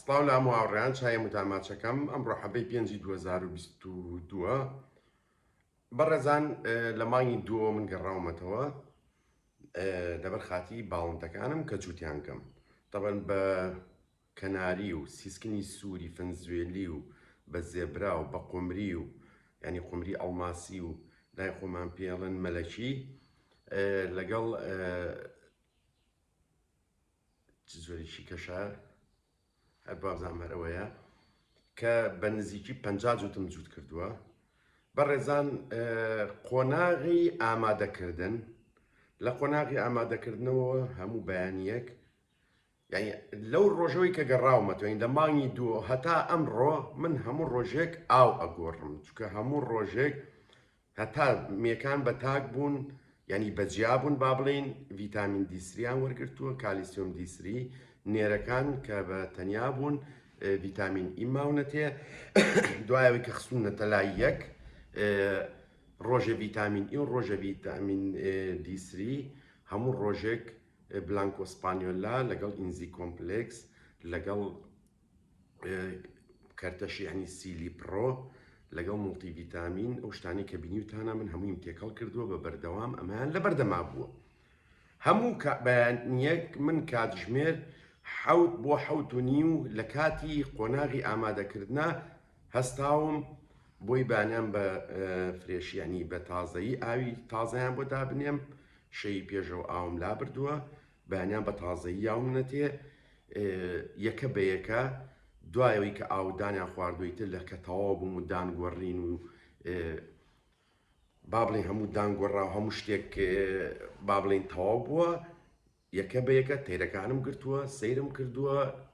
سڵاو لە هەموو هاوڕێیان چای متاماچەکەم ئەمڕۆ حەبەی پێنجی 2022 بەڕێزان لە مانگی دووە من گەڕاومەتەوە لەبەر خاتی باڵندەکانم کە جووتیان کەم تەبەن بە کەناری و سیسکنی سووری فەنزوێلی و بە زێبرا و بە قمری و ینی قمری ئەڵماسی و لای خۆمان پێڵن مەلەکی لەگەڵ چ جۆرێکی کەشە؟ هەر بابزانم هەر ئەوەیە کە بە نزیکی پەنجا جوتم جووت کردووە بەڕێزان قۆناغی ئامادەکردن لە قۆناغی ئامادەکردنەوە هەموو بەیانیەک یعنی لەو ڕۆژەوەی کە گەڕاومەتوین لە مانگی دووە هەتا ئەمڕۆ من هەموو ڕۆژێک ئاو ئەگۆڕم چکە هەموو ڕۆژێک هەتا مێکان بە تاک بوون یانی بە جیا بوون با بڵێین ڤیتامین دی سریان وەرگرتووە کالیسیۆم دی سری نێرەکان کە بە تەنیا بوون ڤیتامین ئی ماونەتێ دوایەوەی کە خستونەتە لای یەک ڕۆژە ڤیتامین ئی و ڕۆژە ڤیتامین دی سری هەموو ڕۆژێک بلانکۆسپانیۆلا لەگەڵ ئینزی کۆمپلکس لەگەڵ کەرتە شیعنی سیلی پڕۆ لەگەڵ موڵتی ڤیتامین ئەو شتانی کە بینیوتانە من هەموویم تێکەڵ کردووە بە بەردەوام ئەمەیان لە بەردەما بووە هەموو بەیانیەک من کاتژمێر حەوت بۆ حەوت و نیو لە کاتی قۆناغی ئامادەکردە هەستاوم بۆی بانیان بە فرێشیانی بە تازایی ئاوی تازەیان بۆ دابنێم شەی پێشەوە ئاوم لابردووە بەیانیان بە تازەیی یاو منەتێ یەکە بە یەکە دوایەوەی کە ئاودانیان خواردووی تر لە کە تەواو بووم و دانگۆڕین و با بڵێن هەموو دانگۆڕا و هەموو شتێک با بڵێن تەواو بووە یەکە بە یەکە تەیرەکانم گرتووە سەیرم کردووە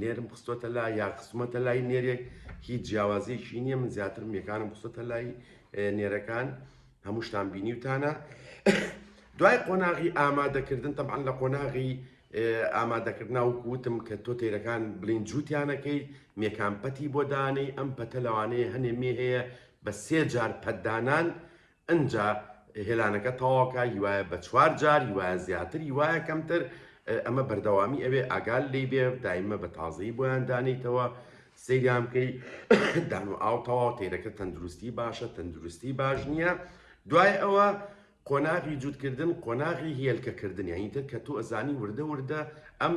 نێرم خستۆتە لا یا خستومەتە لای نێرێک هیچ جیاوازیەکی نییە من زیاتر مێکانم خستۆتە لای نێرەکان هەمووشتان بینیوتانە دوای قۆناغی ئامادەکردن تەمان لە قۆناغی ئامادەکردنا وکوتم کە تۆ تێرەکان بلین جووتیانەکەی مێکان پەتی بۆ دانەی ئەم پەتە لەوانەیە هەنێ مێ هەیە بە سێ جار پەتدانان ئنجا هێلانەکە تەواوکە هیوایە بە چوار جار هیوایە زیاتر هیوایە کەمتر ئەمە بەردەوامی ئەوێ ئاگال لی بێ دایمە بە تازەی بۆیان دانیتەوە سەیریان بکەی دان و ئاو تەواو تێرەکە تەندروستی باشە تەندروستی باش نییە دوای ئەوە قۆناغی جووتکردن قۆناغی هێلکەکردن یانی تر کە تۆ ئەزانی وردە وردە ئەم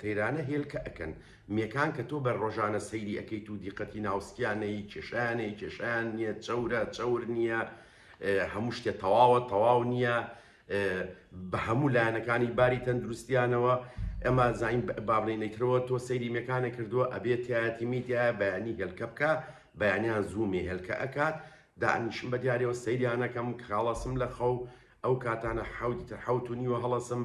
تەیرانە هێلکە ئەەکەن مێکان کە تۆ بە ڕۆژانە سەیری ئەکەیت و دیقەتی ناو سکیان نەیی کێشیانەی کێشیان نیە چەورە چەور نیە هەموو شتێ تەواوە تەواو نیە بە هەموو لایەنەکانی باری تەندروستیانەوە ئەمە زین بابلین نەیترەوە تۆ سەیری مێکانە کردووە ئەبێتایەتی میتە بەیانی هێلکە بکە بەیانیان زوومی هێلکە ئەکات دانیشم بە دیارەوە سەیریانەکەم کاڵەسم لە خەو ئەو کاتانە حەوتی تر حوت و نیوە هەڵەسم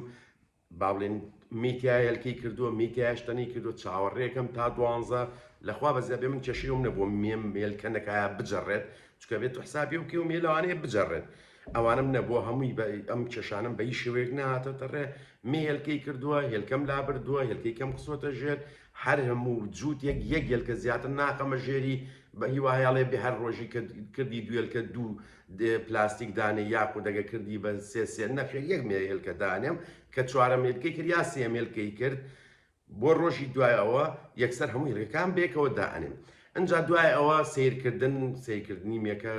با بڵێن میتیای هەلکەی کردووە میتیاش تەنی کردو چاوەڕێکەم تا دوانزە لەخوا بەزیاد بێ من کێشەیەم نەبووە مێم مێلکەنەکایە بجەڕێت چکە بێت و حسابی و کێو مێلوانەیە بجەڕێت ئەوانم نەبووە هەمووی بە ئەم کێشانم بە هیچ شێوەیەک نهاتەتە ڕێ مێ هێلکەی کردووە هێلکەم لا بردووە هێلکەی کەم قسوەتە ژێر هەر هەموو جووتێک یەک هێلکە زیاتر ناخەمە ژێری بە هیواهیاڵێ بێ هەر ڕۆژی کردی دوێلکە دوو دێ پلاستیک دانێ یاخود ئەگەر کردی بە سێ سێ نەخێر یەک مێ هێلکە دانێم کە چوارەم هێلکەی کرد یا سێیەم هێلکەی کرد بۆ ڕۆژی دوای ئەوە یەکسەر هەموو هێلکەکان بێکەوە دانێم ئەجا دوای ئەوە سیرکردن سیرکردنی مێکە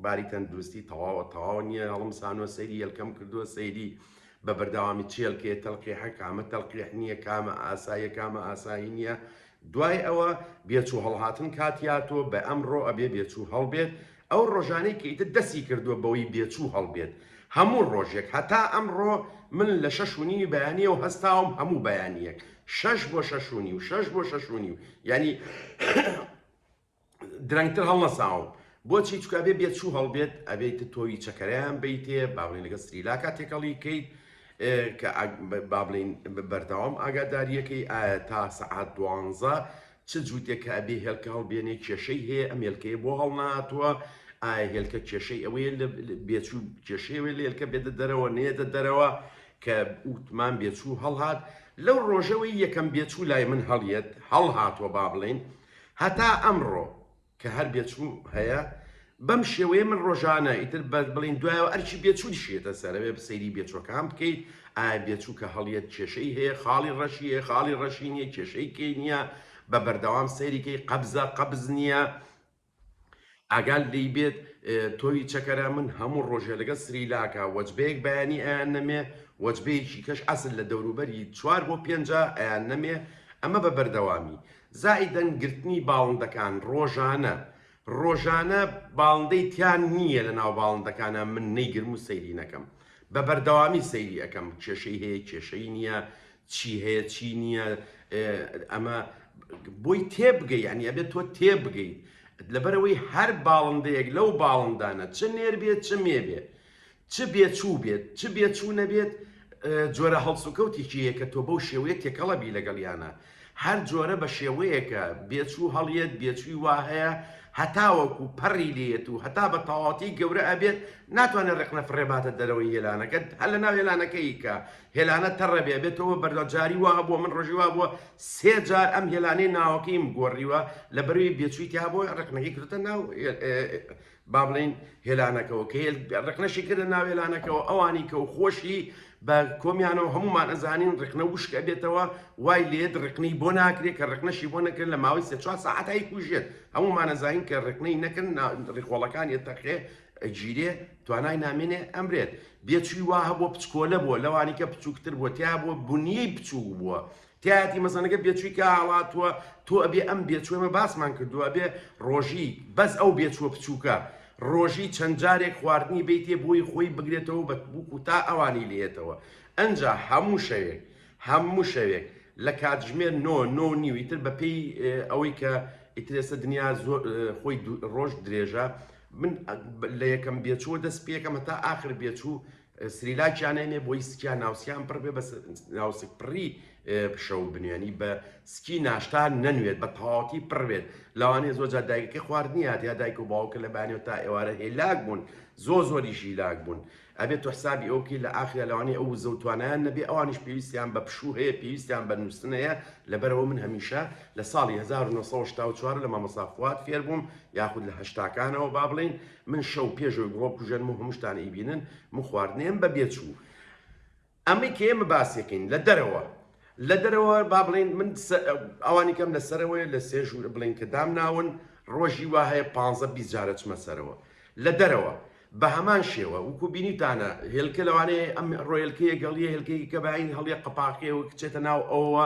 باری تەندروستی تەواوە تەواو نییە هەڵم سانوە سەیری یەلکەم کردووە سەیری بە بەرداوامی چێلکێ تەلقی حەکامە تەلقیح نییە کامە ئاساییە کامە ئاسایی نییە دوای ئەوە بێچوو هەڵهاتن کاتی هاتووە بە ئەمڕۆ ئەبێ بێچوو هەڵبێت ئەو ڕۆژانەی کە ئیتر دەستی کردووە بەوەی بێچوو هەڵبێت هەموو ڕۆژێک هەتا ئەمڕۆ من لە شەش و نیوی بەیانیەوە هەستاوم هەموو بەیانیەک شەش بۆ شەش و نیو شەش بۆ شەش و نیو یانی درەنگتر هەڵنەساوم بۆچی چکە ئەبێ بێت چوو هەڵبێت ئەبێت تۆوی چەکەرەیان بیتێ باڵین لەگە سریلاکە تێکەڵی کەیت کە بابلین بەردەوام ئاگاداریەکەی ئایا تا سەعات دوانزە چ جووتێک کە ئەبێ هێلکە هەڵبێنێ کێشەی هەیە ئەم هێلکەیە بۆ هەڵناتوە ئایا هێلکە کێشەی ئەوەیە لە بێچوو کێشەیەوەی لە هێلکە بێدە دەرەوە نێدە دەرەوە کە ئوتمان بێچوو هەڵهات لەو ڕۆژەوەی یەکەم بێچوو لای من هەڵیەت هەڵهاتوە با بڵین هەتا ئەمڕۆ کە هەر بێچوو هەیە بەم شێوەیە من ڕۆژانە ئیتر بە بڵین دوایەوە ئەرکی بێچووی شێتە سەرەوێ بسەیری بێچوەکان بکەیت ئایا بێچوو کە هەڵیت کێشەی هەیە خاڵی ڕەشیە خاڵی ڕەشی نیە کێشەی کەی نییە بە بەردەوام سەیریکەی قەبزە قەبز نییە ئاگال لی بێت تۆوی چەکەرە من هەموو ڕۆژێ لەگە سریلاکە وەجبەیەک بەیانی ئەیان نەمێ وەجبەیەکی کەش ئەسل لە دەوروبەری چوار بۆ پێنج ئەیان نەمێ ئەمە بە بەردەوامی زائیدەن گرتنی باڵندەکان ڕۆژانە ڕۆژانە باڵندەی تیا نیە لە ناو باڵندەکانا من نەیگرم و سەیری نەکەم بە بەردەوامی سەیری ئەکەم کێشەی هەیە کێشەی نیە چی هەیە چی نیە ئەمە بۆی تێبگەی یعنی ئەبێت تۆ تێبگەیت لەبەرەوەی هەر باڵندەیەک لەو باڵندانە چ نێر بێت چ مێ بێ چ بێ چوو بێت چ بێ چوو نەبێت جۆرە هەڵسوکەوتێکی هەیە کە تۆ بەو شێوەیە تێکەڵە بی لەگەڵیانە هەر جۆرە بە شێوەیەکە بێچوو هەڵیەت بێچووی وا هەیە هەتاوەکو پەڕی لێت و هەتا بە تەواتی گەورە ئەبێت ناتوانێت ڕقنە فڕێباتە دەرەوەی هێلانەکەت هەر لە ناو هێلانەکەی کە هێلانە تەڕەبێ بێتەوە بەردەجاری وا بووە من ڕژی وا بووە سێ جار ئەم هێلانەی ناوەکەیم گۆڕیوە لە بەروی بێچووی تیا بۆ ڕقنەکەی کردتە ناو با بڵێین هێلانەکەوە کە هێل ڕقنەشی کردە ناو هێلانەکەوە ئەوانی کە و خۆشی بە کۆمیانەوە هەمومان ئەزانین ڕقنە وشک ئەبێتەوە وای لێت ڕقنەی بۆ ناکرێت کە ڕقنەشی بۆ نەکرێت لە ماوەی سێ چوار سەعات هەی کوژێت هەمومان ئەزانین کە ڕقنەی نەکرد نا ڕیخۆڵەکان ئێتەقێ ئەگیرێ توانای نامێنێ ئەمرێت بێچووی وا هەبووە پچکۆلە بووە لەوانی کە بچووکتر بووە تیا بووە بنیەی بچووک بووە تیایەتی مەزەنەگە بێچوی کا هەڵاتوە تۆ ئەبێ ئەم بێچوە مە باسمان کردووە ئەبێ ڕۆژی بەس ئەو بێچوە بچووکە ڕۆژی چەند جارێک خواردنی بیتێ بۆی خۆی بگرێتەوە بە بووک و تا ئەوانی لێتەوە ئەجا هەموو شەوێک هەموو شەوێک لە کاتژمێر نۆ نۆ نیوی تر بەپێی ئەوەی کە ئیترێسە دنیا زۆر خۆی ڕۆژ درێژە من لە یەکەم بێچوە دەست پێکەمە تا ئاخر بێچوو سریلاکیان نەینێ بۆی سکیا ناوسکیان پڕ بێ بە ناوسک پڕی بشەو بنوێنی بە سکی ناشتا نەنوێت بە تەواوەتی پڕێت لەوانێ زۆر جا دایکەکە خواردنیات یا دایک و باوکە لە بانێت تا ئێوارە هێلاک بوون زۆ زۆری ژیلاک بوون ئەبێت تۆ حسابی ئەوکی لە ئاخرا لەوانێ ئەو زەوتوانیان نەبێ ئەوانش پێویستیان بە پشوو هەیە پێویستیان بە نووسن هەیە لەبەرەوە من هەمیشە لە ساڵی 1994 لە مامەسافوات فێربووم یاخود لە هەشتاکانەوە با بڵین من شەو پێش ئەوەی بڕۆم کوژەنم و هەمووشتان ئەیبینن من خواردنێم بە بێ چوو ئەمەی کە ئێمە باسیەکەین لە دەرەوە لە دەرەوە با بڵێن من ئەوانی کەم لە سەرەوەی لە سێژ بڵێن کە دام ناون ڕۆژی وا هەیە پ بیست جارە چمە سەرەوە لە دەرەوە بە هەمان شێوە وکو بینیتانە هێلکە لەوانەیە ئەم ڕۆیلکەیە گەڵیە هێلکەی کە باین هەڵیە قەپاقیەوە کچێتە ناو ئەوە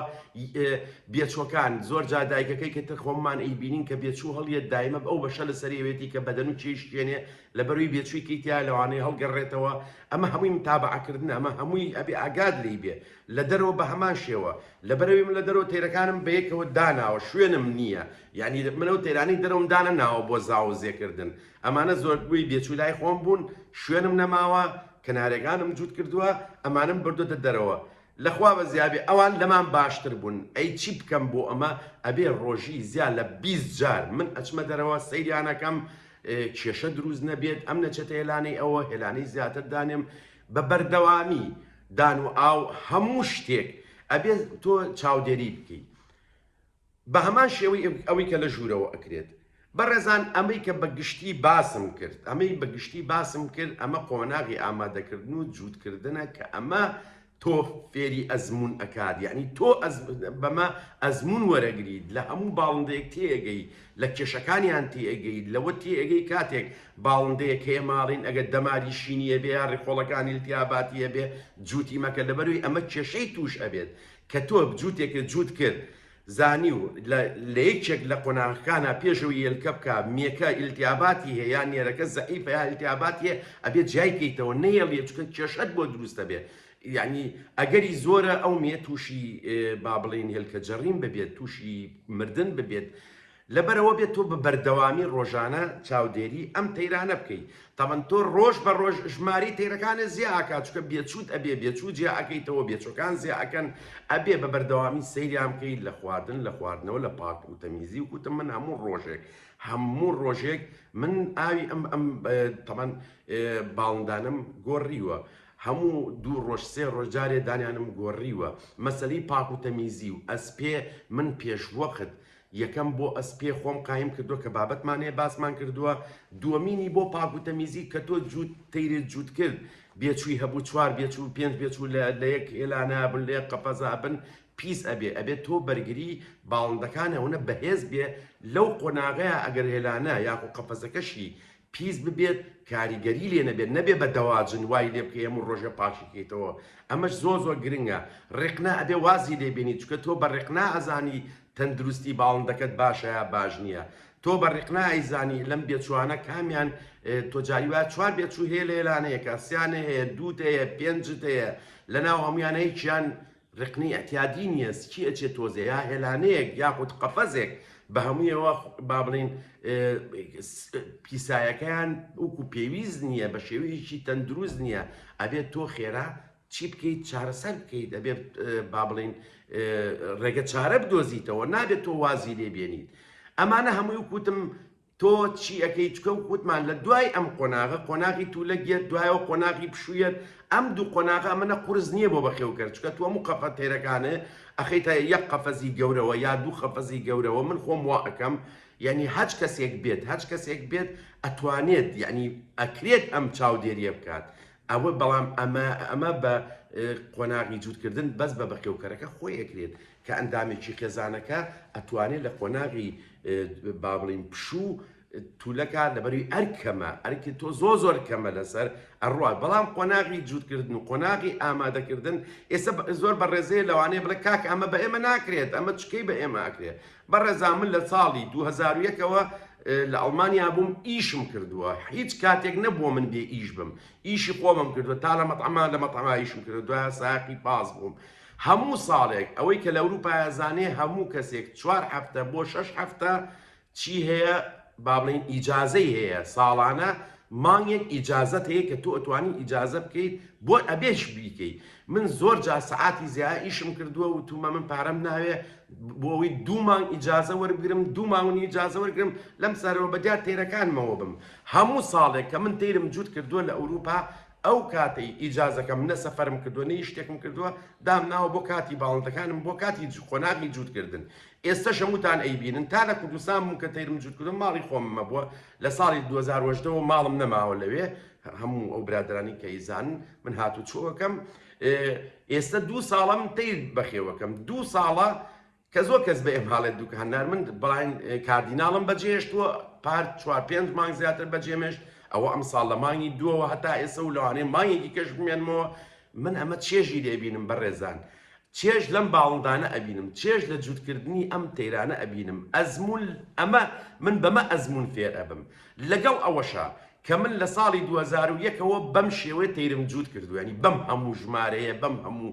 بێچوەکان، زۆر جار دایکەکەی کە ترخۆممان ئەیبینین کە بێچو هەڵیەت دایمە ئەو بەشە لەسەری ئەوێتی کە بەدەن و چێی شکێنێ لەبەروی بێچوی کەی تیایە لەوانەیە هەڵگەرێتەوە ئەمە هەموی متابەعە کردنە ئەمە هەموی ئەبێ ئاگات لێی بێ لە دەرەوە بەهەمان شێوە لەبەرەوی من لە دەرەوە تەیرەکانم بەیەکەوە داناوە شوێنم نیە یانی من ئەو تەیرانەی دەرەوەم دانەناوە بۆ زاوەزێ کردن ئەمانە زۆربوی بێچوی لای خۆم بون شوێنم نەماوە کەنارێگانم جوت کردوە ئەمانم بردۆتە دەرەوە لە خوا بەزیابێ ئەوان لەمان باشتر بوون ئەی چی بکەم بۆ ئەمە ئەبێ ڕۆژی زیا لە بیست جار من ئەچمە دەرەوە سەیریان ئەکەم کێشە دروست نەبێت ئەم نەچێتە هێلانەی ئەوە هێلانەی زیاتر دانێم بە بەردەوامی دان و ئاو هەموو شتێک ئەبێ تۆ چاودێری بکەیت بەهەمان شێوەی ئەوەی کە لە ژوورەوە ئەکرێت. بەڕێزان ئەمەی کە بە گشتی باسم کرد ئەمەی بە گشتی باسم کرد ئەمە قۆناغی ئامادەکردن و جووت کردنە کە ئەمە تۆ فێری ئەزموون ئەکات یانی تۆ بەمە ئەزموون وەرەگریت لە هەموو باڵندەیەک تێئەگەی لە کێشەکانیان تێئەگەیت لەوە تێئەگەی کاتێک باڵندەیەک هەیە ماڵین ئەگەر دەماری شینیە بێ یا ڕیخۆڵەکانی التیاباتی هەبێ جووتی مەکە لەبەروی ئەمە کێشەی تووش ئەبێت کە تۆ جووتێکت جووت کرد زانی و لە لە یەکێک لە قۆناغەکانا پێشەوەی یەلکە بکا مێکە ئیلتیاباتی هەیە یا نێرەکە زەعیفە یا ئیلتیاباتی هەیە ئەبێ جیای کەیتەوە نەیەڵیە چونکە کێشەت بۆ دروست دەبێ یەعنی ئەگەری زۆرە ئەو مێ تووشی با بڵێین هێلکە جەڕیم ببێت تووشی مردن ببێت لەبەرئەوە بێت تۆ بە بەردەوامی ڕۆژانە چاودێری ئەم تەیرانە بکەی تەبەن تۆ ڕۆژ بە ڕۆژ ژمارەی تەیرەکانت زیا ئەکات چونکە بێچووت ئەبێ بێچوو جیا ئەکەیتەوە بێچووەکان زیا ئەکەن ئەبێ بە بەردەوامی سەیریان بکەی لە خواردن لە خواردنەوە لە پاک و تەمیزی و کوتم من هەموو ڕۆژێک هەموو ڕۆژێک من ئاوی ئەم ئەم تەبەن باڵندانم گۆڕیوە هەموو دوو ڕۆژ سێ ڕۆژ جارێ دانیانم گۆڕیوە مەسلەی پاک و تەمیزی و ئەسپێ من پێشوەخت یەکەم بۆ ئەسپێ خۆم قایم کردوە کە بابەتمان هەیە باسمان کردوە دوەمینی بۆ پاک و تەمیزی کە تۆ جووت تەیرت جووت کرد بێچووی هەبوو چوار بێچوو پێنج بێچوو لە لە یەک هێلانە بن لە یەک قەفەزا بن پیس ئەبێ ئەبێ تۆ بەرگری باڵندەکان ئەونە بەهێز بێ لەو قۆناغەیە ئەگەر هێلانە یاخۆ قەفەزەکەشی پیس ببێت کاریگەری لێ نەبێت نەبێ بە دەواجن وای لێ بکەی هەموو ڕۆژێ پاکی کەیتەوە ئەمەش زۆر زۆر گرنگە ڕێقنە ئەبێ وازی لێ بێنی چونکە تۆ بە ڕێقنە ئەزانی تەندروستی باڵندەکەت باشە یا باش نییە تۆ بە ڕێقنە ئەیزانی لەم بێچوانە کامیان تۆ جاری وایە چوار بێچوو هەیە لە ئێلانەیەکە سیانە هەیە دووت هەیە پێنجت هەیە لە ناو هەمویانەیەکیان رقنی ئعتیادی نیە سکی ئەچێ تۆزێ یا هێلانەیەک یاخود قەفەزێک بەهەمویەوە بابڵێین پیسایەکەیان وکو پێویست نیە بەشێوەیەکی تەندروست نیە ئەبێت تۆ خێرا چی بکەیت چارەسەر بکەیت ئەبێت بابڵین رێگە چارە بدۆزیتەوە نابێت تۆ وازی لێ بێنیت ئەمانە هەموی وکوتم تۆ چی ئەکەی چکە وتمان لە دوای ئەم قۆناغە قۆناغی تولەک یەت دوایەوە قۆناغی پشوویەت ئەم دوو قۆناغە ئەمەە قورس نییە بۆ بەخێوکەر چکە تۆ هەموو قەفە تێرەکانێ ئەخیتە یەک قەفەزی گەورەوە یا دوو قەفەزی گەورەوە من خۆم وا ئەکەم یەنی هەچ کەسێک بێت هەچ کەسێک بێت ئەتوانێت یەنی ئەکرێت ئەم چاودێریە بکات ئەوە بەڵام ئەمە ئەمە بە قۆناغی جووتکردن بەس بە بەخێوکەرەکە خۆی ئەکرێت کە ئەندامێکی خێزانەکە ئەتوانێ لە قۆناغی با بڵێین پشوو تولەکە لەبەروی ئەرک کەمە ئەرکی تۆ زۆ زۆر کەمە لەسەر ئەڕات بەڵام قۆناغی جووتکردن و قۆناغی ئامادەکردن ئێستا زۆر بە ڕێزەیە لەوانەیە بڵێ کاک ئەمە بە ئێمە ناکرێت ئەمە چکەی بە ئێمە ئەکرێت بە ڕێزا من لە ساڵی 2001ەوە لە ئەڵمانیا بووم ئیشم کردووە هیچ کاتێک نەبووە من بێ ئیش بم ئیشی خۆمم کردووە تا لە مەتەما لە مەتەما ئیشم کردو دوای ساقی پاس بووم هەموو ساڵێک ئەوەی کە لە ئەوروپایە زانێ هەموو کەسێک چوار هەفتە بۆ شەش هەفتە چی هەیە با بڵێین ئیجازەی هەیە ساڵانە مانگێک ئیجازەت هەیە کە تۆ ئەتوانی ئیجازە بکەیت بۆ ئەبێش بیکەی من زۆر جا سەعاتی زیای ئیشم کردووە و تومە من پارەم ناوێ بۆ ئەوی دوو مانگ ئیجازە وەربگرم دوو ماونی ئیجازە وەرگرم لەم سەرەوە بە دیار تێرەکانمەوە بم هەموو ساڵێک کە من تیرم جووت کردووە لە ئەوروپا ئەو کاتەی ئیجازەکەم نە سەفەرم کردووە نە هیچ شتێکم کردووە، دامناوە بۆ کاتی باڵندەکانم بۆ کاتی قۆناغی جووتکردن. ئێستەشم وتان ئەیبینن. تا لە کوردستان بووم کە تەیرم جووت کردووە ماڵی خۆمم هەبووە، لە ساڵی دوو هەزار و هەژدە وە ماڵم نەماوە لەوێ، هەموو ئەو برادەرانی کە ئەیزانن من هاتووچۆ ئەکەم. ئێستە دوو ساڵە من تەیر بەخێو ئەکەم. دوو ساڵە کە زۆر کەس بە ئهمهاڵێت دوکان نار من بڵاین کاردیناڵم بەجێهێشتووە پار چوار پێنج مانگ زیاتر بەجێمێشت ئەوە ئەمساڵ لە مانگی دووەوە هەتا ئێسە و لەوانەیە مانگێکی کەش بمێنمەوە من ئەمە چێژی لێبینم بەڕێزان چێژ لەم باڵندانە ئەبینم چێژ لە جووتکردنی ئەم تەیرانە ئەبینم ئەزمون ئەمە من بەمە ئەزمون فێر ئەبم لەگەڵ ئەوەشە کە من لە ساڵی 2001ەوە بەم شێوەیە تەیرم جووت کردوێنی بەم هەموو ژمارەیە بەم هەموو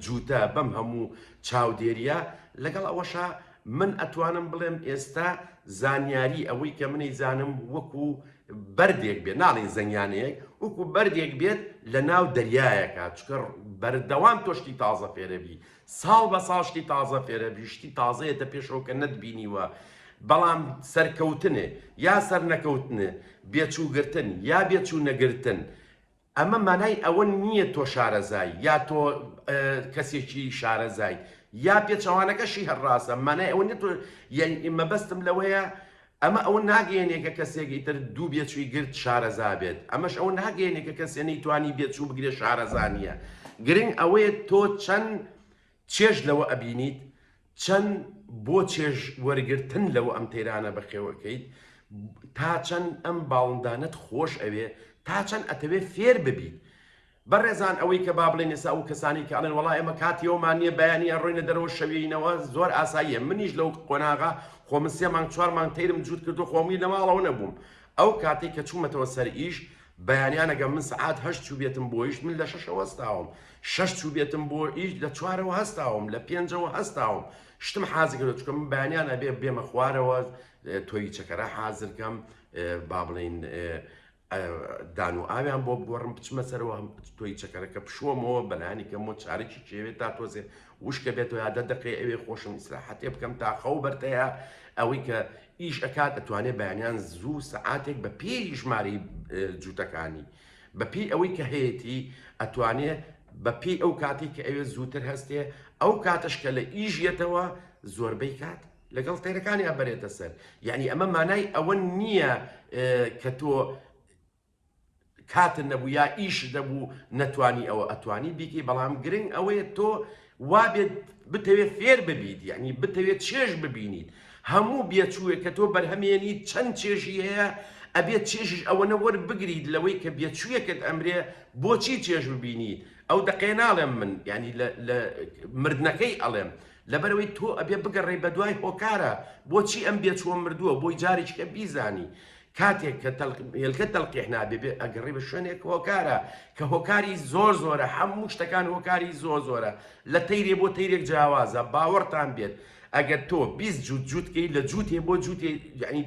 جووتە بەم هەموو چاودێریە، لەگەڵ ئەوەشا من ئەتوانم بڵێم ئێستا زانیاری ئەوەی کە منی زانم وەکو بەردێک بێت ناڵێین زەنگیانەیەک وەکو بەردێک بێت لە ناو دەریایەکە چکە بەردەوام تۆشتی تازە فێرەبی ساڵ بە ساڵشتی تازە فێرەبی شتی تازەیەتە پێشەوە کە نەتبینیوە بەڵام سەرکەوتنێ یا سەرنەکەوتنێ بێچووگرتن یا بێچوو نەگرتن ئەمە مانای ئەوە نییە تۆ شارەزای، یا تۆ کەسێکی شارەزای، یا پێچەوانەکەشی هەر ڕاستە، مانای ئەوە نییە تۆ، یەعنی مەبەستم لەوەیە ئەمە ئەوە ناگەیەنێ کە کەسێک ئیتر دوو بێچووی گرت شارەزا بێت، ئەمەش ئەوە ناگەیەنێ کە کەسێ نەیتوانی بێچوو بگرێ شارەزا نییە، گرنگ ئەوەیە تۆ چەند چێژ لەوە ئەبینیت چەن بۆ چێژ وەرگر تن لەوە ئەم تەیرانە بەخێوە کەیت تا چەن ئەم باڵندانەت خۆش ئەوێ تا چەن ئەتەوێ فێر ببیت بە ڕێزان ئەوەی کە با بڵێن ئێسا ئەو کەسانی کە ئەڵێن وەڵا ئێمە کاتی ئەومان نیە بەیانی ئەڕۆینە دەرەوە شەویینەوە زۆر ئاساییە منیش لەو قۆناغە خۆ من سێ مانگ چوار مانگ تەیرم جووت کردو خۆ موی لە ماڵەوە نەبووم ئەو کاتەی کە چوومەتەوە سەر ئیش بەیانیان ئەگەر من سەعات هەشت چووبێتم بۆ ئیش، من لە شەشەوە هەستاوم، شەش چووبێتم بۆ ئیش، لە چوارەوە هەستاوم، لە پێنجەوە هەستاوم، شتم حازر کردووە، چونکە من بەیانیان ئەبێ بێمە خوارەوە، تۆوی چەکەرە حازر کەم، با بڵێین دان و ئاویان بۆ بگۆڕم، بچمە سەرەوە، تۆوی چەکەرەکە بشۆمەوە، بەلایەنی کەمەوە چارەکی کێوێ تا تۆزێ وشکە بێتۆ یا دە دەقەی ئەوێ خۆشم ئیسراحەتێ بکەم تا خەو بەرتەیە ئەوەی کە ئیش ئەکات ئەتوانێت بەیانیان زوو سەعاتێک بە پێی ژماری جووتەکانی بەپی ئەوەی کە هەیەی ئەتوانێت بەپی ئەو کاتی کە ئەوێ زووتر هەستێ ئەو کاتش کە لە ئیژیەتەوە زۆربەی کات لەگەڵ تێرەکانی ئەبرێتە سەر یعنی ئەمە مانای ئەوە نییە کە تۆ کاتت نەبوو یا ئیشت نەبوو نەتوانی ئەوە ئەتوانی بیکەی بەڵام گرنگ ئەوەیە تۆ وابێت بتەوێت فێر ببیت یعنی بتەوێت چێژ ببینیت هەموو بێچووێک کە تۆ بەرهەمێنیت چەند چێژی هەیە ئەبێت چێژیش ئەوەنە وەربگریت لەوەی کە بێچوویەکەت ئەمرێ بۆچی چێژ ببینیت ئەو دەقێ ناڵێم من ینی لە مردنەکەی ئەڵێم لەبەرەوەی تۆ ئەبێ بگەڕێ بە دوای هۆکارە بۆچی ئەم بێچووە مردووە بۆی جارێککە بیزانی کاتێک کە هێلکە تەلقیح نابێ بێ ئەگەڕێ بە شوێنێک هۆکارە کە هۆکاری زۆر زۆرە هەموو شتەکان هۆکاری زۆر زۆرە لە تەیرێ بۆ تەیرێک جیاوازە باوەڕتان بێت ئەگەر تۆ بیست جووت جووتکەی لە جووتێ بۆ جووتێ یعنی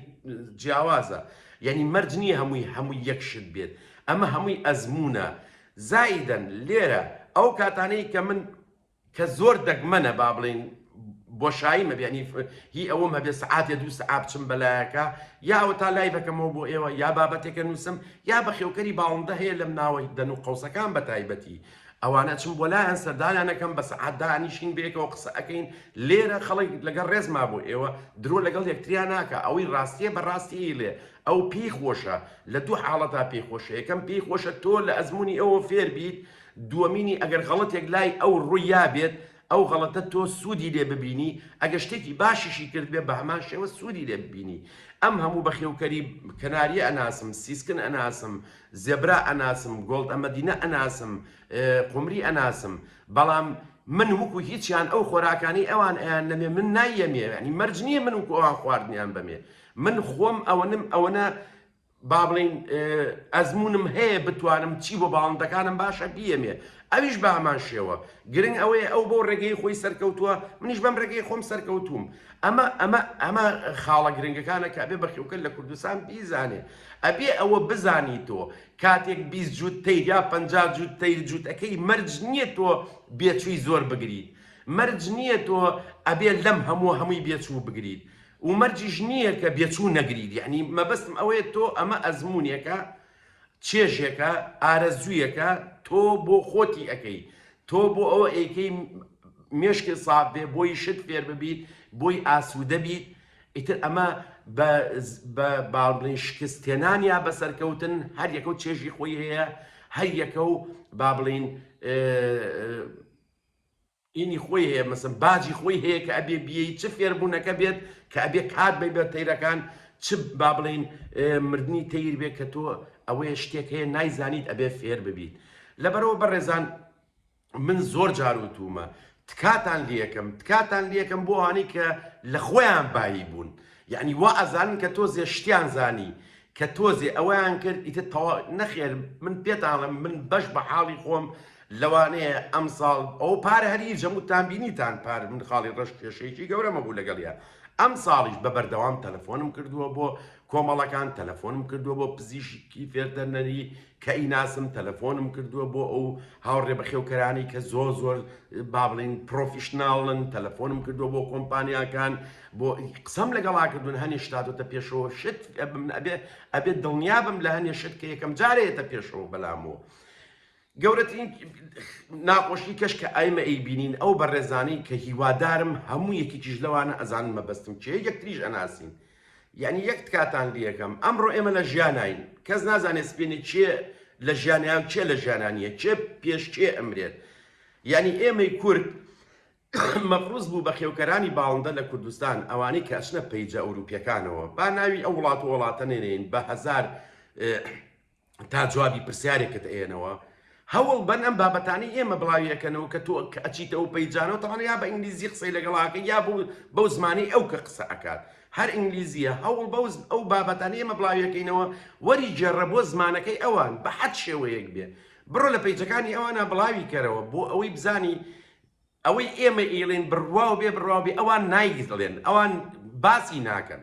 جیاوازە یعنی مەرج نییە هەمووی هەمووی یەک شت بێت ئەمە هەمووی ئەزمونە زائیدەن لێرە ئەو کاتانەی کە من کە زۆر دەگمەنە با بڵێین بۆشاییم هەبێ یانی هی ئەوەم هەبێ سەعاتێ دوو سەعات بچم بە لایەکە یا ئەوەتا لایڤەکەمەوە بۆ ئێوە یا بابەتێکە نووسم یا بەخێوکەری باڵندە هەیە لەم ناوەی دەن و قەوسەکان بە تایبەتی ئەوانە چم بۆ لایەن سەردانیانەکەم بە سەعات دانیشین بەیەکەوە قسە ئەەکەین لێرە خەڵک لەگەڵ ڕێزما بۆ ئێوە درۆ لەگەڵ یەکتریا ناکە ئەوەی ڕاستیە بە ڕاستی لێ ئەو پێی خۆشە لە دوو حاڵەتا پێی خۆشە یەکەم پێی خۆشە تۆ لە ئەزمموی ئەوە فێربیت دووەمینی ئەگەر غەڵەتێک لای ئەو ڕوویابێت ئەو غەڵەتە تۆ سوودی لێ ببینی ئەگەر شتێکی باشیشی کردبێت بەهەمان شێوە سوودی لێ ببینی ئەم هەموو بەخێوکەری کەناریە ئەناسم سیسکن ئەناسم زێبرا ئەناسم گۆڵدە مەدینە ئەناسم قومری ئەناسم بەڵام من وکو هیچیان ئەو خۆراکانی ئەوان ئەیان نەمێ من نایەمێ ینی مەرج نییە من وکو ئەوان خواردنیان بەمێ من خۆم ئەوەنم ئەوەنە با بڵێین ئەزموونم هەیە بتوانم چی بۆ باڵندەکانم باشە بیەمێ ئەویش بە هەمان شێوە گرنگ ئەوەیە ئەو بۆ ڕێگەی خۆی سەرکەوتووە منیش بەم ڕێگەی خۆم سەرکەوتوم ئەمە ئەمە ئەمە خاڵە گرنگەکانە کە بێ بەخیوکە لە کوردستان بیزانێ ئەبێ ئەوە بزانی تۆ کاتێک بیست جووت تیر یا پ جووت تیر جووتەکەی مەرج نییە تۆ بێچووی زۆر بگریت مەرج نییە تۆ ئەبێ لەم هەموو هەمووی بێچوو بگریت ومەرجیش نیە کە بێچوو نەگریت یەعنی مەبەستم ئەوەیە تۆ ئەمە ئەزمونێکە چێژێکە ئارەزویەکە تۆ بۆ خۆتی ئەکەی تۆ بۆ ئەوە ئەیکەی مێشکت ساف بێ بۆی شت فێر ببیت بۆی ئاسودە بیت ئیتر ئەمە بە باڵین شکست تێنان یا بە سەرکەوتن هەر یەکە و چێژی خۆی هەیە هەر یەکە و با بڵین ینی خۆی هەیە مەسەن باجی خۆی هەیە کە ئەبێ بیەی چ فێربوونەکە بێت کە ئەبێ کات بەی بە تەیرەکان چ با بڵین مردنی تەیر بێت کە تۆ ئەوەیە شتێک هەیە نایزانیت ئەبێ فێر ببیت لەبەرەوە بەڕێزان من زۆر جاروتومە تکاتان لەکەم تکاتان لەکەم بۆ هانی کە لە خۆیان بایی بوون یعنی وا ئەزانن کە تۆ زێشتیان زانی کە تۆزێ ئەوەیان کرد ئیتر تەوا نەخێر من پێتانڵێم من بەش بە حاڵی خۆم لەوانەیە ئەم ساڵ ئەو پار هەر هیچ هەموو تان بینیتان پار من خاڵی ڕەش کێشەیەکی گەورەمە بوو لەگەڵیا ئەم ساڵیش بە بەردەوام تەلەفۆنم کردووە بۆ کۆمەڵەکان تەلەفۆنم کردووە بۆ پزیشکی فێردەرنەری کە ئیناسم تەلەفۆنم کردووە بۆ ئەو هاوڕێ بەخێوکەرانی کە زۆر زۆر با بڵین پرۆفیشناڵن تەلەفۆنم کردووە بۆ کۆمپانیاکان بۆ قسەم لەگەڵا کردوون هەنێ شتاتۆتە پێشەوە شت ئەبێ ئەبێت دڵنیابم لە هەنێ شت کە یەکەم جارەیەتە پێشەوە بەلامەوە گەورەترین ناخۆشی کەش کە ئایمە ئەی بینین ئەو بەڕێزانەی کە هیوادارم هەموو یەکێکیش لەوانە ئەزانن مەبەستم چێ یەکتریش ئەناسین یەعنی یەک تکاتان لێکەم ئەمڕۆ ئێمە لە ژیاناین کەس نازانێت سپێنێ کێ لە ژیانە و کێ لە ژیانا نیە کێ پێش کێ ئەمرێت یەعنی ئێمەی کورد مەفروز بوو بە خێوکەرانی باڵندە لە کوردستان ئەوانەی کە ئەچنە پەیجە ئەوروپیەکانەوە با ناوی ئەو وڵات و وڵاتە نێنین بە هەزار تا جوابی پرسیارێکت ئەیەنەوە هەوڵ بەن ئەم بابەتانی ئێمە بڵاویەکەنەوە کە تۆ کە ئەچیتەوە پەیجانەوە تەوان یا بە ئینگلیزی قسەی لەگەڵاکە یا بوو بەو زمانی ئەو کە قسە ئەکات هەر ئینگلیزیە هەوڵ بەو ئەو بابەتانی ئێمە بڵاویەکەینەوە وەری گێڕە بۆ زمانەکەی ئەوان بە حەد شێوەیەک بێ بڕۆ لە پەیجەکانی ئەوانە بڵاوی کەرەوە بۆ ئەوەی بزانی ئەوەی ئێمە ئیڵێن بڕواو بێ بڕواوبێ ئەوان ناییڵێن ئەوان باسی ناکەن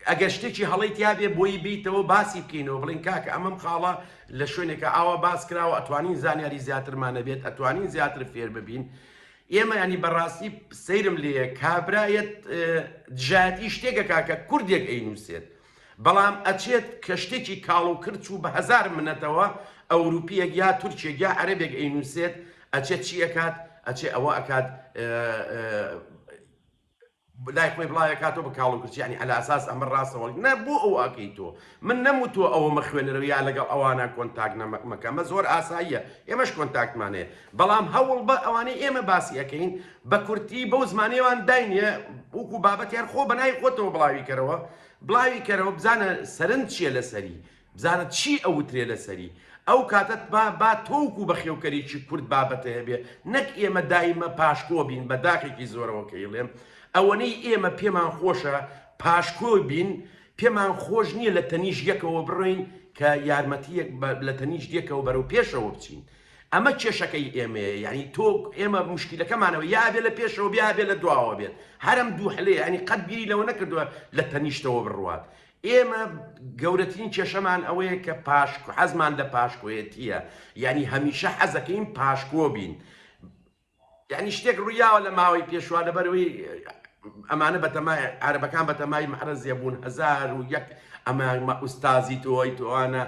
ئەگەر شتێکی هەڵەی تیابێ بۆی بیتەوە باسی بکەینەوە بڵین کاکە ئەمەم خاڵە لە شوێنێکە ئاوا باس کراوە ئەتوانین زانیاری زیاترمانە بێت ئەتوانین زیاتر فێر ببین ئێمە ینی بەڕاستی سەیرم لێ کابرایەت دژایەتی شتێکە کاکە کوردێک ئەی نووسێت بەڵام ئەچێت کە شتێکی کاڵ و کرچ و بە هەزار منەتەوە ئەوروپیەک یا تورکێک یا عەرەبێک ئەینوسێت ئەچێت چی ئەکات ئەچێ ئەوە ئەکات لای خۆی بڵاوێکاتەوە بە کاڵ و کرچ یعنی عەلە ئەساس ئەمە ڕاستەوە نە بۆ ئەو ئەکەی تۆ من نەموتوە ئەوە مەخوێنەرەوە یا لەگەڵ ئەوانە کۆنتاک نەمەکەمە زۆر ئاساییە ئێمەش کۆنتاکتمانەیە بەڵام هەوڵبە ئەوانەی ئێمە باسی ئەکەین بە کورتی بەو زمانەیەوان داینێ وەکو بابەت یان خۆ بە ناوی خۆتەوە بڵاوی کەرەوە بڵاوی کەرەوە بزانە سەرنج چییە لەسەری بزانە چی ئەوترێ لەسەری ئەو کاتەت با با تۆوکو بەخێوکەرێکی کورد بابەتە هەبێ نەک ئێمە دایمە پاشکۆ بین بە داخێکی زۆرەوە کە ئیڵێم ئەوەنەی ئێمە پێمان خۆشە پاشکۆ بین پێمان خۆش نییە لە تەنیش یەکەوە بڕۆین کە یارمەتیەک لە تەنیش یەکەوە بەرەو پێشەوە بچین ئەمە کێشەکەی ئێمەیە یانی تۆ ئێمە مشکیلەکەمانەوە یا ئەبێ لە پێشەوە بێ ئەبێ لە دواوە بێت هەرم دوو حلەیە یانی قەت بیری لەوە نەکردووە لە تەنیشتەوە بڕوات ئێمە گەورەترین کێشەمان ئەوەیە کە پاشک حەزمان لە پاشکۆیەتیە یانی هەمیشە حەزەکەین پاشکۆ بین یەعنی شتێک ڕوویاوە لە ماوەی پێشوە لەبەرەوەی ئەمانە بەتەمای عەرەبەکان بەتەمای مەحرەزیە بوون هەزار و یەک ئەمە ئوستازی تۆی تۆوانە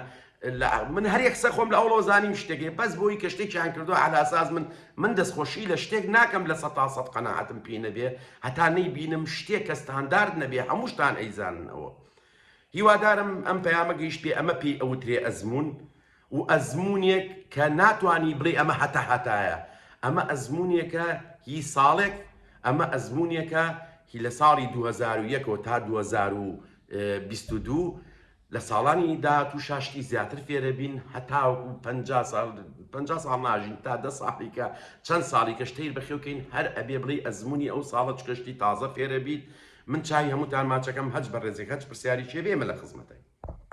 من هەر یەک سەخۆم لە ئەوڵۆ زانیم شتێکی بەس بۆی کە شتێکیان کردو علاساز من من دەستخۆشی لە شتێک ناکەم لە سە تا سەد قەنەعاتم پێ نەبێ هەتا نەی بینم شتێک کە ستاندارد نەبێ هەمووشتان ئەیزاننەوە هیوادارم ئەم پەیامە گەیشت پێ ئەمە پێی ئەوترێ ئەزمون و ئەزموونێک کە ناتوانی بڵێی ئەمە هەتا هەتایە، ئەمە ئەزموونێکە هی ساڵێک، ئەمە ئەزموونێکە هی لە ساڵی دوو هەزار و یەک ەوە تا دوو هەزار و بیست و دوو، لە ساڵانی داهاتووشا شتی زیاتر فێرەبین هەتاوەکو پەنجا ساڵ، پەنجا ساڵ ناژین تا دە ساڵیکە چەند ساڵیکەش تەیر بەخێو کەین هەر ئەبێ بڵێی ئەزموونی ئەو ساڵە چونکە شتی تازە فێرەبیت، من چاوی هەمووتان ماچەکەم هەچ بەڕێزێک هەچ پرسیاریک هەبێ ئێمە لە خزمەتین.